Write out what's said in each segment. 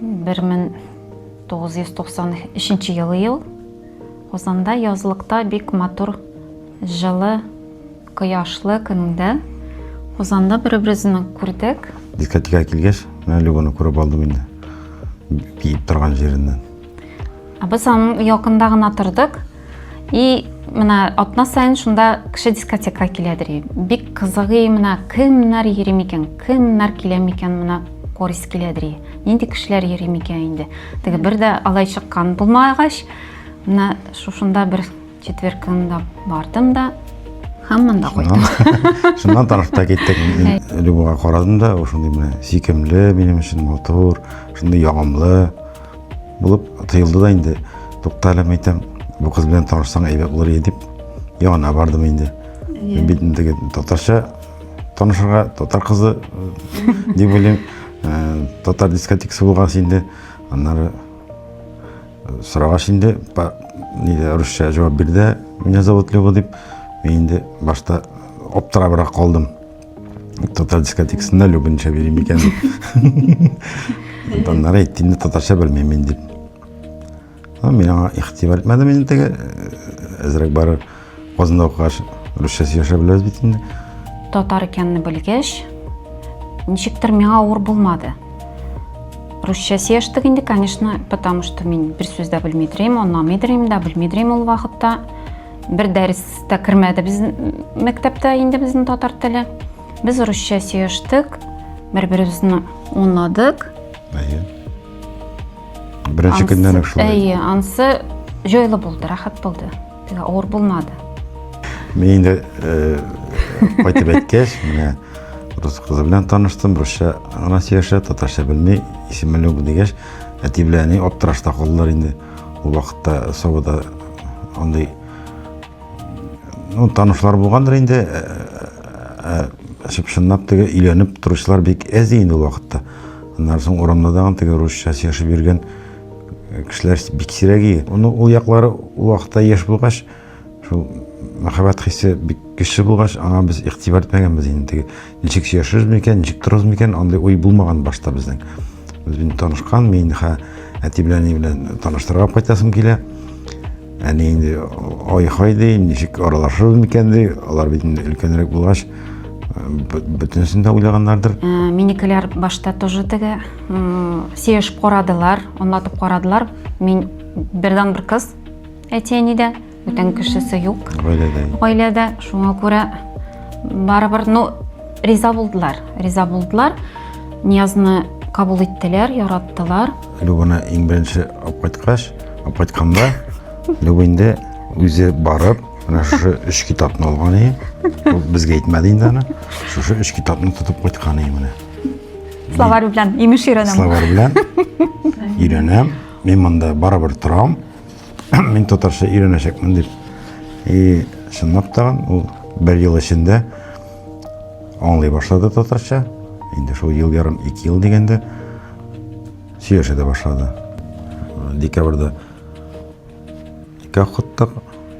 1993 елы ел Казанда язлыкта бик матур жылы кояшлы көндә Казанда бер-беребезне күрдек. Дискотека килгәч, менә Любаны күреп алдым инде. Биеп торган җиреннән. Без аның якында гына тордык. И менә атна сайын шунда кеше дискотека киләдер. Бик кызыгы менә кемнәр йөри микән, кемнәр килә микән менә корис киләдер. Нинди кешеләр йөри микән инде. Теге бер дә алай чыккан булмагач, менә шушында бер четверг көнендә бардым да һәм монда кайттым. Шуннан танышып та киттек. Любога карадым да, шундый менә сикемле, минем өчен матур, шундый ягымлы. Булып тоелды да инде. Тукта әле, мәйтәм, бу кыз белән танышсаң әйбәт булыр иде дип, янына бардым инде. Мин бит инде татарча танышырга, татар кызы дип уйлыйм. Э, татар дискотекасы булган инде. Аннары э, сорагач инде, ниде русча җавап бирде. Меня зовут Лева дип. Мин инде башта аптырабрак калдым. татар дискотекасында любынша бирем икән дип аннары әйтте инде татарча белмим дип мин аңа игътибар итмәдем инде теге әзрәк барыр казанда укыгач русча сөйләшә беләбез бит инде татар икәнне белгәч ничектер миңа авыр булмады русча сөйләштек инде конечно потому что мин бер сүз дә белмидерим анламыйдырым да белмидерим ул вакытта бер дәрес тә кермәде без мәктәптә инде безнең татар теле без русча сөештек бер беребезне онладык әйе беренче көннән үк шулай әйе ансы җайлы булды рәхәт булды авыр булмады мен инде э, кайтып әйткәч менә рус кызы белән таныштым русча гына сөйләшә татарча белми исемлек дигәч әти белән әни аптырашта калдылар инде Ул вакытта Сабада андый ну, танышлар булгандыр инде. Әшеп шыннап теге өйләнеп торучылар бик әз инде ул вакытта. Аннан соң урамда да теге русча сөйләшеп йөргән кешеләр бик сирәге. Ул яклары ул вакытта яшь булгач, Шул мәхәббәт хисе бик көчле булгач, аңа без игътибар итмәгәнбез инде. Ничек сөйләшербез микән, ничек торырбыз микән, андый уй булмаган башта безнең. Без инде танышкан, мин хә әти белән ни белән таныштырырга кайтасым килә. Әни инде ай-хай ди, ничек аралашырбыз микән ди, алар бит инде өлкәнрәк булгач, бөтенесен дә уйлаганнардыр. Э, минекеләр башта тоже теге сөйләшеп карадылар, аңлатып карадылар. Мин бердән бер кыз, Әти-әни дә, бүтән кешесе юк. Гаиләдә. Гаиләдә, шуңа күрә барыбер, ну, риза булдылар. Риза булдылар. Ниязны кабул иттеләр, яраттылар. Любаны иң беренче алып кайткач, алып кайтканда Люба инде үзе барып, менә шушы өч китапны алган иде. Ул безгә әйтмәде инде аны. Шушы өч китапны тотып кайткан иде менә. Словарь белән имеш өйрәнәм. Словарь белән өйрәнәм. Мин монда барыбер торам. Мин татарча өйрәнәчәкмен дип. И чынлап та ул бер ел эчендә аңлый башлады татарча. Инде шул ел ярым, ике ел дигәндә сөйләшә дә башлады. Декабрьдә икәү кыттык,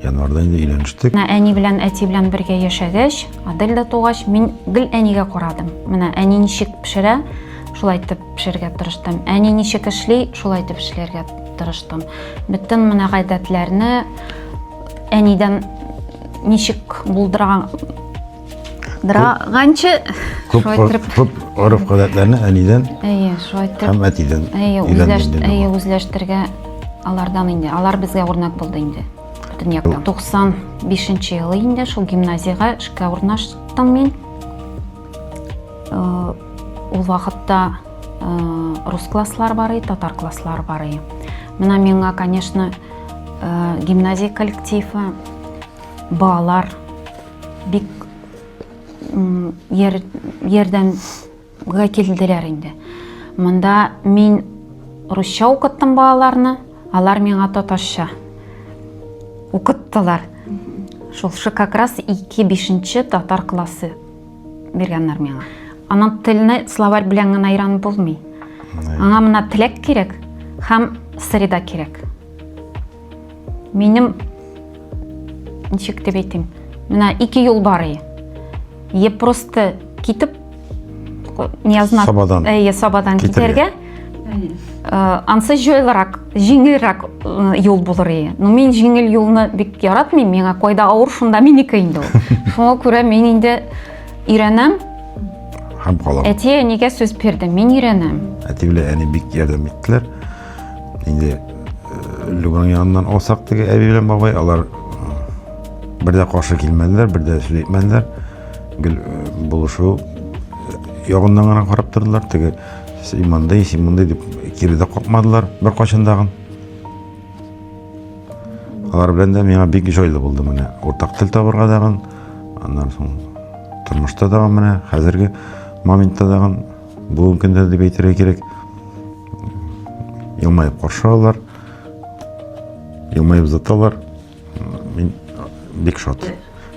январда инде өйләнештек. Менә әни белән әти белән бергә яшәгәч, Адель дә тугач, мин гел әнигә карадым. Менә әни ничек пешерә, шулай итеп пешерергә тырыштым. Әни ничек эшли, шулай итеп эшләргә Тырыштым. Бөтен менә гадәтләрне әнидән ничек булдырган драганчы күп күп гореф гадәтләрне әнидән әйе шулай итеп һәм әтидән әйе үзләшт әйе үзләштергә алардан инде алар безгә үрнәк булды инде бөтен яктан туксан бишенче елы инде шул гимназиягә эшкә урнаштым мин Ул вакытта рус класслар бар иде, татар класслар бар иде. Менә миңа, конечно, гимназия коллективы, балалар бик ярдәмгә килделәр инде. Монда мин русча укыттым балаларны, алар миңа татарча укыттылар. Шулшы как раз ике бишенче татар классы биргәннәр миңа. Аның телне словарь белән генә өйрәнеп булмый. Аңа мына теләк кирәк һәм среда кирәк. Минем ничек дип әйтим, менә ике юл бар и. Е просто китеп не означ... Сабадан. Э, сабадан китәргә. Э, ансы җайлырак җиңелрәк э, юл булыр иде но мин җиңел юлны бик яратмыйм миңа кайда авыр шунда минеке инде ул шуңа күрә мин инде өйрәнәм һәм калам әти әнигә сүз бирде мин өйрәнәм әти белән әни бик ярдәм иттеләр инде э, любаң яныннан алсак теге әби белән бабай алар бер дә каршы килмәделәр бер дә сүз әйтмәделәр гел булышу ягыннан гына карап тордылар теге Син мондый, син мондый дип кире дә какмадылар беркайчан тагын. Алар белән дә миңа бик җайлы булды менә. Уртак тел табырга дагын, аннан соң тормышта дагын менә, хәзерге моментта дагын, бүгенге көндә дип әйтергә кирәк. Елмаеп каршы алалар, елмаеп заталар. Мин бик шат.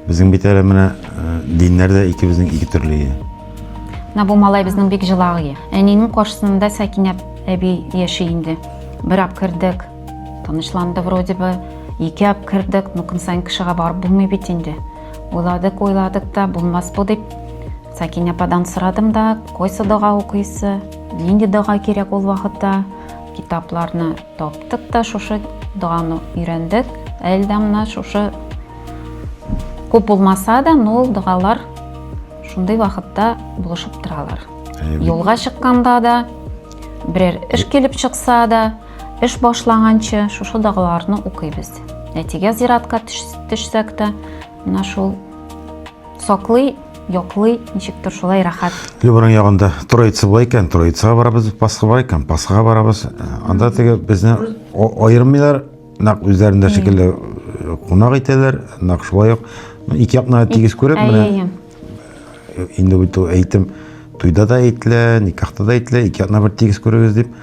Безнең бит әле менә диннәр дә икебезнең ике төрле. Менә бу малай безнең бик җылагы. Әнинең каршысында Сәкинә әби яши инде. Бер ап кердек, танышланды вроде бы. Ике ап кердек, ну көн сайын кешегә барып булмый бит инде. Уйладык, уйладык та, булмас бу дип. Сәкинә ападан сорадым да, койсы дога укыйсы, нинди дога кирәк ул вакытта, китапларны Таптык та шушы доганы өйрәндек. Ә Эльдамна шушы күп булмаса да, но ул догалар шундый вакытта булышып торалар. Юлга чыкканда да, берәр эш килеп чыкса да, эш башланганчы шушы догаларны укыйбыз. Әтигә зиратка төшсәк тә, менә шул Саклый, яклый, ничектер шулай рәхәт. Любаның ягында Троица була икән, Троицага барабыз, Пасха бар икән, Пасхага барабыз. Анда теге безне аермыйлар, нәкъ үзләрендә шикелле кунак итәләр, нәкъ шулай ук ике якны тигез күреп менә инде бит әйтем, туйда да әйтелә, никахта да әйтелә, ике якны бер тигез күрегез дип.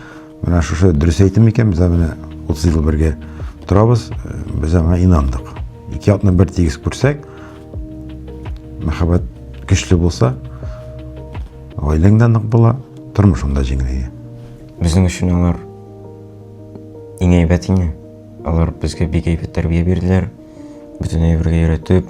Менә шушы дөрес әйтем икән, без менә 30 ел бергә торабыз, без аңа инандык. Ике якны бер тигез күрсәк, мәхәббәт көчле булса, гаиләң дә нык була, тормышың да җиңеләя. Безнең өчен алар иң әйбәт ине. Алар безгә бик әйбәт тәрбия бирделәр. Бөтен әйбергә өйрәтеп,